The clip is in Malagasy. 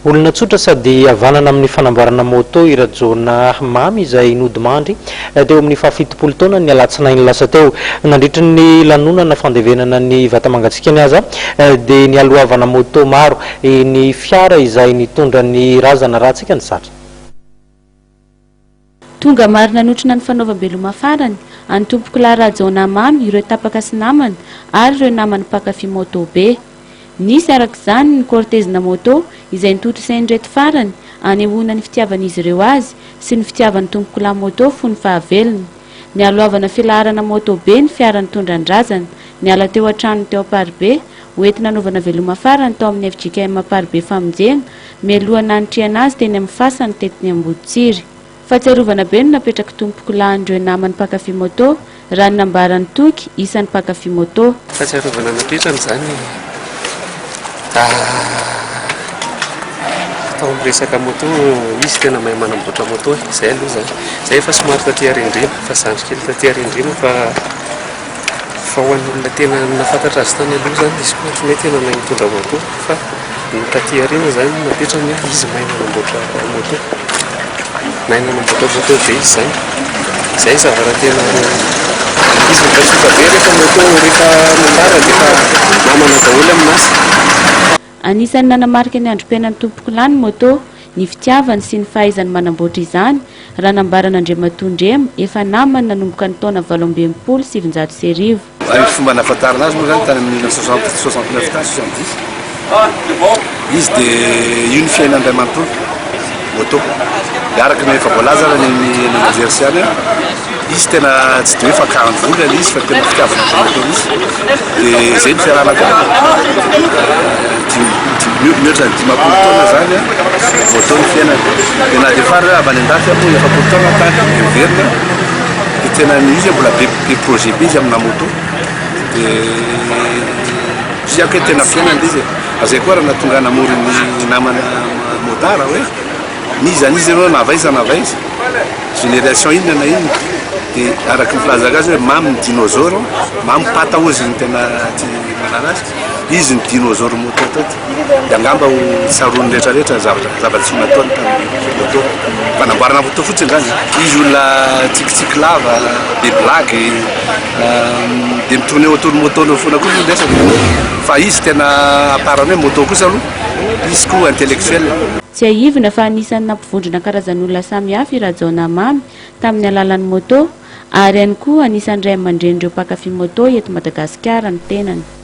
Olona tsotra sady havanana amin'ny fanamboarana môtô i Rajaonah Mamy izay nodimandry teo amin'ny fahafitopolo taonany ny alatsinainy lasa teo. Nandritra ny lanonana fandevenana ny vata mangatsiakany aza dia nialohavana môtô maro ny fiara izay nitondra ny razana raha tsy ka ny zatra. Tonga maro nanotrona ny fanaovam-beloma farany an'i Tompokolahy Rajaonah Mamy ireo tapaka sy namana ary ireo namany mpankafy moto be. Nisy araka izany ny cortezina moto izay notontosain'ireto farany anehoana ny fitiavan'izy ireo azy sy ny fitiavan'ny tompokolahy moto fony fahavelony. Nialohavana filaharana moto be ny fiara nitondra an-drazana niala teo an-tranony teo Amparibe ho entina hanaovana veloma farany tao amin'ny fjkm Amparibe famonjena Mialoha nanitrihana azy teny amin'ny fasany tetiny Amboditsiry. Fahatsiarovana be no napetrak'i Tompoko lahin'ireo namany mpankafy moto, raha ny nambaran'i Toky, isan'ny mpankafy moto. Fahatsiarovana napetrany izany atao amin'ny resaka moto, izy tena mahay manamboatra moto e! Izay aloha izany. Izahay efa somary taty Arendrina, efa zandry kely taty Arendrina fa. Fa ho an'olona tena nahafantatra azy tany aloha izany izy koa ohatran'ny hoe tena mahay mitondra moto fa ny taty aoriana izany no napetrany hoe izy mahay manamboatra moto. Mahay manamboatra moto be izy izany. Izay ny zava-tena izy mampatsiahy be rehefa moto rehefa mandalo dia efa namana daholo ny maso. Anisan'ny nanamarika ny androm-piainan'i Tompokolahy ny moto, ny fitiavany sy ny fahaizany manamboatra izany, raha nambaran'Andriamatoa Ndrema, efa namany nanomboka ny taona valo amby enimpolo sy sivinjato sy arivo. Raha ny fomba nahafantarana azy moa izany tany amin'ny mille neuf cent soixante, soixante neuf tany, soixante dix, izy dia io ny fiainany iray manontolo. Moto. Dia araka ny efa voalaza ary ny manager sy ihany an, izy tena tsy dia hoe fakan vola ilay izy fa tena fitiavana an'izay moto mihitsy. Dia izay ny fiarahana tamin'ny dimy, mihoatra ny dimampolo taona izany an, moto ny fiainany. Dia na dia fara hoe avy any an-dafy ary moa efapolo taona tany dia miverina dia tena ny izy mbola be be projet be izy amina moto. Dia tsy aiko hoe tena fiainany ilay izy e. Ary izay koa ary nahatonga ahy namory ny namana. Modar hoe n'iza n'iza ianao na avy aiza na avy aiza, génération inona na inona dia araka ny filazako azy hoe mamy ny dinôzôro, mamy pata ozy ny tena aty manala azy, izy ny dinôzôro môtô teto dia angamba ho tsaroan'ny rehetra rehetra zavatra zava-tsoa nataony tamin'ny môtô, fanamboarana môtô fotsiny izany, izy olona tsikitsiky lava, be blague, dia mi-tourner autour ny môtô-ny eo foana koa ny resany fa izy tena à part ny hoe môtô kosa aloha. Izy koa intellectuel. Tsiahivina fa anisan'ny nampivondrona karazan'olona samihafa i Rajaonamamy tamin'ny alalan'ny moto, ary ihany koa anisan'ny ray aman-drenin'ireo mpankafy moto eto Madagasikara ny tenany.